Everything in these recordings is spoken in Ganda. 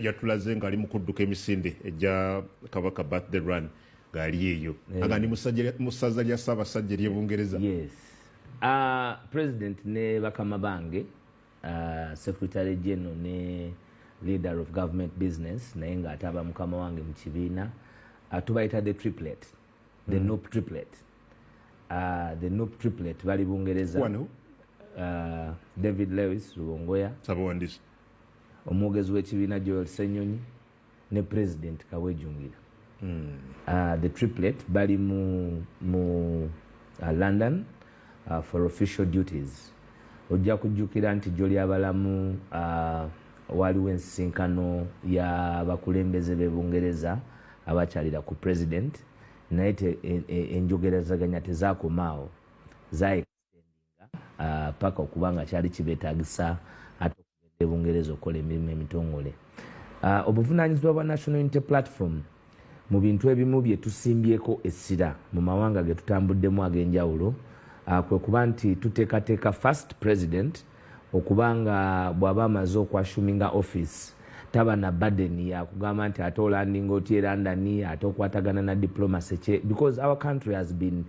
yatulaze nga ali mukudduka emisinde egya kabaka birthday run ngaali eyo eh. aga ndi musaza lya ssaabasajja ery'e bungereza ah, president ne bakama bange ah, secretary general ne leader of government business naye nga ataba mukama wange mu kibiina ah, tubayita the triplet the hmm. nop triplet the nop triplet bali bungereza david lewis lubongoya omwogezi w'ekibiina Joel Ssenyonyi ne president Kawejungira mm. uh, the triplet bali mu, mu uh, London uh, for official duties ojja kujjukira nti jjo lyabalamu uh, waliwo ensisinkano y'abakulembeze b'e Bungereza abakyalira ku president naye e, e, enjogerazaganya tezakomaawo zaye Ah, paka okuba nga kyali kibetagisa ate okugenda ebungereza okukola emirimu emitongole ah, obuvunanyizibwa bwa national unity platform mu bintu ebimu bye tusimbyeko essira mu mawanga ge tutambuddemu ag'enjawulo ah, kwe kuba nti tuteekateeka first president okuba nga bw'aba amaze okwashuminga office taba na burden yakugamba nti ate olandinga otya erandani ate okwatagana na diplomacy kye because our country has been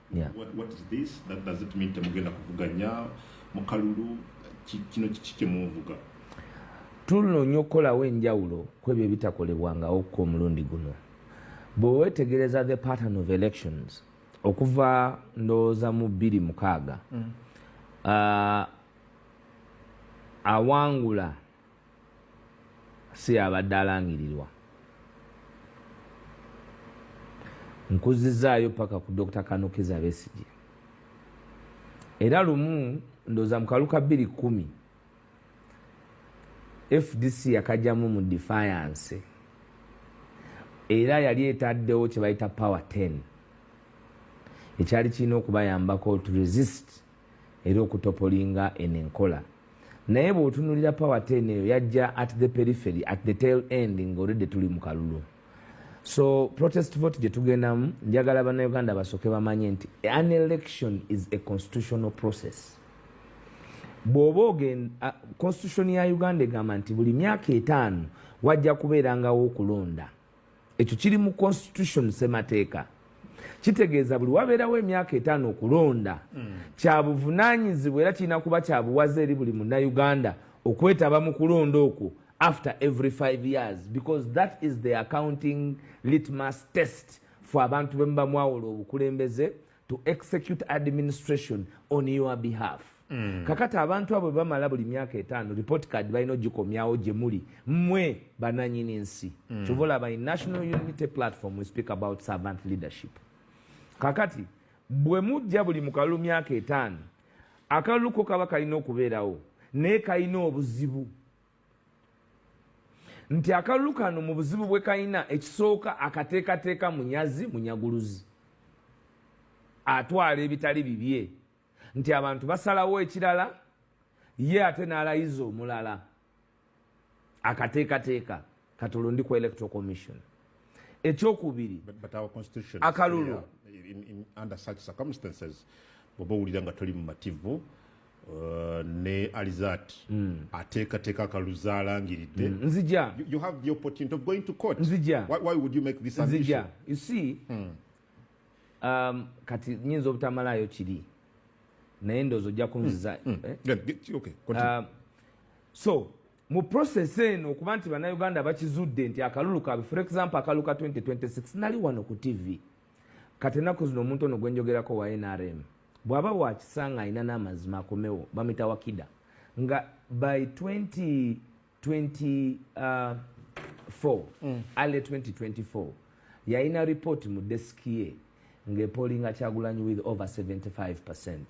Yeah. What, what is this? That does it mean temugenda kuvuganya mukalulu kino kiki kyemuvuga tunoonya okukolawo enjawulo kwebyo ebitakolebwangawo ku omulundi guno bwewetegereza the pattern of elections okuva ndowooza mu bbiri mukaaga mm. uh, awangula si yabadde alangirirwa nkuzizaayo paka ku dr kanukiza besigye era lumu ndoza mukaluka bbiri kumi fdc yakajamu mu defiance era yali etaddewo kyebayita power 10 ekyali kirina okubayambako to resist era okutopolinga eno enkola naye bwotunulira power ten eyo yajja at the perifery at the tail end ngaolidde tuli mu kalulu so protest vote gye tugendamu njagala banauganda basooke bamanye nti an election is a constitutional process bw'oba ogenda constitution ya uganda egamba nti buli myaka etaano wajja kubeerangawo okulonda ekyo kiri mu constitution semateeka kitegeeza buli wabeerawo emyaka etaano okulonda mm. kyabuvunanyizibwa era kirina kuba kyabuwaza eri buli munauganda okwetaba mu kulonda okwo after every five years because that is the accounting litmas test for abantu bemubamwawula obukulembeze to execute administration on your behalf mm. kakati abantu abo bamala buli myaka etaano report card balina ogikomyawo gye muli mwe bananyini nsi mm. kyova olaba in national unity platform we speak about servant leadership kakati bwe mujja buli mu kalulu myaka etaano akalulu ko kaba kalina okubeerawo naye kalina obuzibu nti akalulu kano mu buzibu bwe kalina ekisooka akateekateeka munyazi munyaguluzi atwala ebitali bibye nti abantu basalawo ekirala ye ate n'alayiza omulala akateekateeka kati olwo ndi ku electoral commission ekyokubiri akalulu bwoba owulira nga toli mumativu uh, ne alizat mm. ateekateeka akaluza alangiridde mm. nzija you have the opportunity of going to court nzija why, why would you make this nzija you see mm. um, kati nyinza obutamalayo kiri naye ndoozi ojja kunziza mm. mm. eh? yeah, okay, uh, so mu process eno okuba nti bannayuganda bakizudde nti akalulu kaabwe for example akalulu ka 2026 nali wano ku tv kati ennaku zino omuntu ono gwenjogerako wa nrm bw'aba wakisa nga alina n'amazima akomewo bamita wakida nga by 2024 uh, mm. ale 2024 yalina report mu desiki ye ng'epolinga kyagulanyi with over 75 percent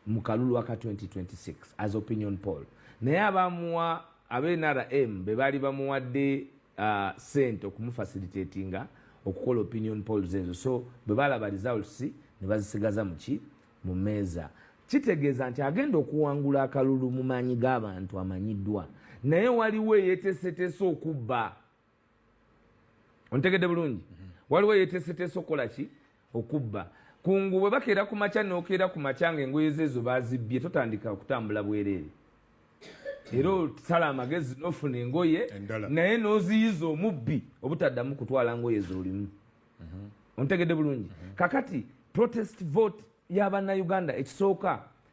mu kalulu aka 2026 as opinion poll naye abamuwa abenrm be baali bamuwadde uh, sente okumufasilitatinga okukola opinion polls ezo so bwe balaba results ne bazisigaza muki mu meeza kitegeeza nti agenda okuwangula akalulu mu maanyi g'abantu amanyiddwa naye waliwo eyetesetese okubba ontegedde bulungi mhm. waliwo yeteeseteese okukola ki okubba kungu bwe bakeera ku makya nokeera ku makya nga engoye zeezo bazibbye totandika okutambula bwereere era osala amagezi nofuna engoye naye noziyiza omubbi obutaddamu kutwala ngoye zolimu mhm. ontegedde bulungi mhm. kakati protest vote yabanauganda ekisooka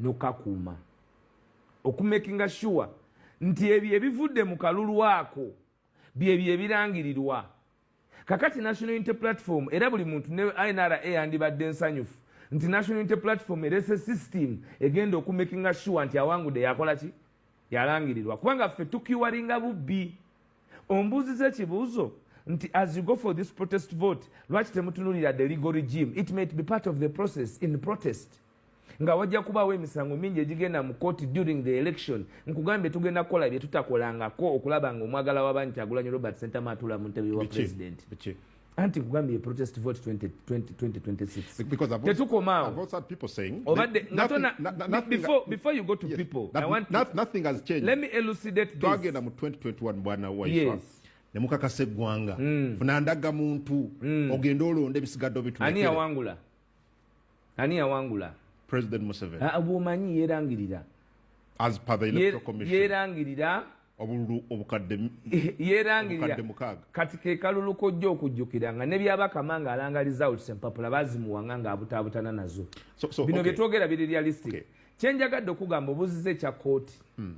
nokakuuma okumakinga sure nti ebyo ebivudde mu kalulu ako byebyo ebirangirirwa kakati national unity platform era buli muntu ne inra yandibadde nsanyufu nti national unity platform erese system egenda okumakinga sure nti awangude yakola ki yalangirirwa kubanga ffe tukiwaringa bubbi ombuuziza ekibuuzo nti as you go for this protest vote lwaki temutunulira the legal regime it might be part of the process in protest nga wajja kubaawo emisango mingi egigenda mu kooti during the election nkugambye tugenda kukola bye tutakolangako okulaba nga omwagala w'abangi kyagulanyi robert sentama atula mu ntebe wa president anti nkugambye ye protest vote 2026tetukomaawobaddengatonabefore you go to people i want nothing has changed let me elucidate this twagenda mu 2021 bwana waiswa nemukakasa eggwanga mm. funa ndaga muntu mm. ogende olonda ebisigadde obituani yawangula ani yawangula president museveni ah, bwomanyi yerangirira as per the electoral commission yerangirira obululu obukadde yerangirira kati ke kalulu kojja okujjukira nga ne byabakama nga alanga results empapula bazimuwanga nga abutaabutana nazo so, so, bino okay. byetwogera biri realistic okay. kyenjagadde okugamba obuzize ekya kooti hmm.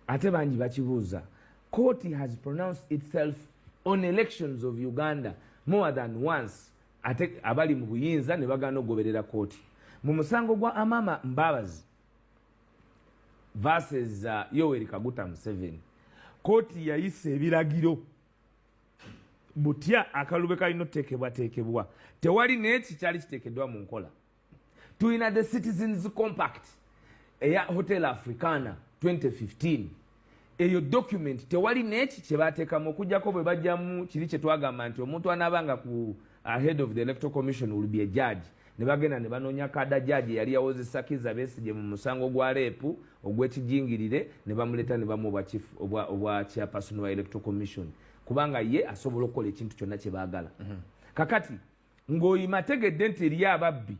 ate bangi bakibuuza kooti has pronounced itself on elections of uganda more than once ate abali mu buyinza ne bagaana okugoberera kooti mu musango gwa amama mbabazi verses uh, yoweri kaguta museveni kooti yayisa ebiragiro butya akalube kalina oteekebwateekebwa tewali naye kikyali kiteekeddwa mu nkola tulina the citizens compact eya hotel africana 2015 eyo document tewali neki kyebatekamu okujjako bwe bajjamu kiri kyetwagamba nti omuntu anabanga ku ahead of the electoral commission will be a judge ne bagenda ne banoonya kada judge yali yawoze sakiza besije mu musango gwa leepu ogwekijingirire ne bamuleta ne bamu obwa chief obwa obwa chairperson wa electoral commission kubanga ye asobola okukola ekintu kyonna kye baagala mm -hmm. kakati ng'oyima tegedde nti eriyo ababbi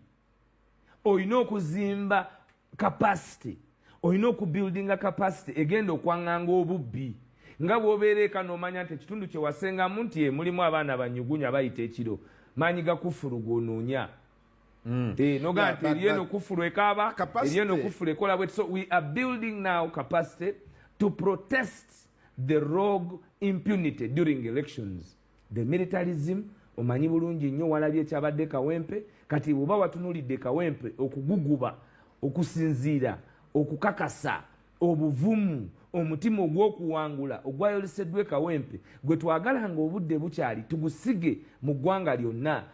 olina okuzimba kapasite olina okubuildinga kapasite egenda okwanganga obubbi nga bwobeera eka nomanya nti ekitundu kyewasengamu nti e, mulimu abaana banyugunya bayita ekiro maanyi gakufulu gwonoonya mm. eh, noga nti eriyo nokufulu ekaaba eriyo nokufulu ekola bwe so we are building now capacity to protest the rogue impunity during elections the militarism omanyi bulungi nnyo walabye ekyabadde kawempe kati bwoba watunulidde kawempe okuguguba okusinziira okukakasa obuvumu omutima ogw'okuwangula ogwayoleseddwa ekawempe gwe twagala nga obudde bukyali tugusige mu ggwanga lyonna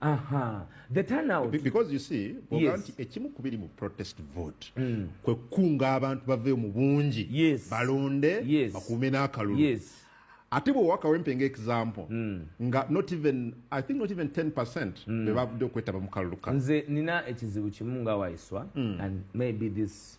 Aha. The turnout. Be because you see, yes. ekimu kubiri mu protest vote. Mm. Kwe kunga abantu bave mu bungi. Yes. Balonde. Yes. Bakume na kalulu. Yes. Ati bo waka wempe nge example. Mm. Nga not even, I think not even 10% mm. bebabu do kweta bamukalulu. Nze nina echizibu chimunga waiswa mm. and maybe this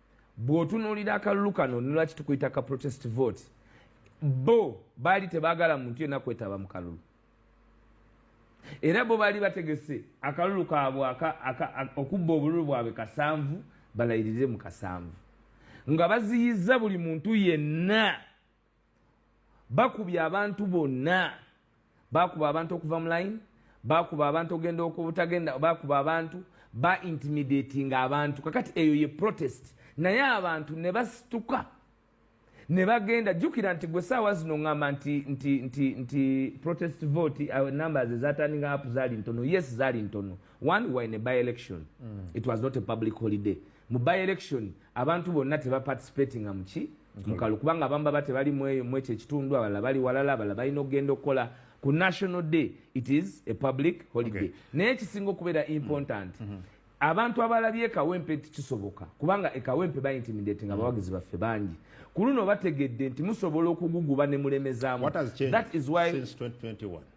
bw'otunuulira akalulu kano nolwaki tukuyita ka protest vote bo baali tebaagala muntu yenna kwetaba mu kalulu era bo baali bategese akalulu kaabwe okubba obululu bwabwe kasanvu balayirire mu kasanvu nga baziyiza buli muntu yenna bakubye abantu bonna bakuba abantu okuva mu line bakuba abantu ogenda okubutagenda bakuba abantu ba intimidating abantu kakati eyo ye protest naye abantu ne basituka ne bagenda jjukira nti gwe saawa zino ŋŋamba nti nti nti nti protest vote uh, numbers ezatandinga app zaali ntono yes zaali ntono one were in a by election mm. it was not a public holiday mu by election abantu bonna tebaparticipating amuki mukalu kubanga abamu baba tebali mweyo mwekyo ekitundu abalala bali walala abalala balina okugenda okukola ku national day it is a public holiday okay. naye ekisinga okubeera important mm -hmm. abantu abalabye ekawempe nti kisoboka kubanga ekawempe baintimidating mm. abawagizi baffe bangi ku luno bategedde nti musobola okuguguba ne mulemezamu that is why since 2021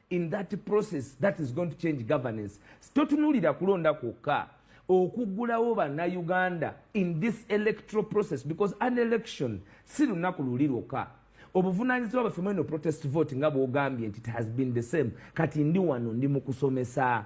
in that process that is going to change governance totunulira kulonda kwokka okugulawo bannayuganda in this electoral process because an election si lunaku luli lwokka obuvunanyizibwa baffe mweno protest vote nga bwogambye nti it has been the same kati ndi wano ndi mu kusomesa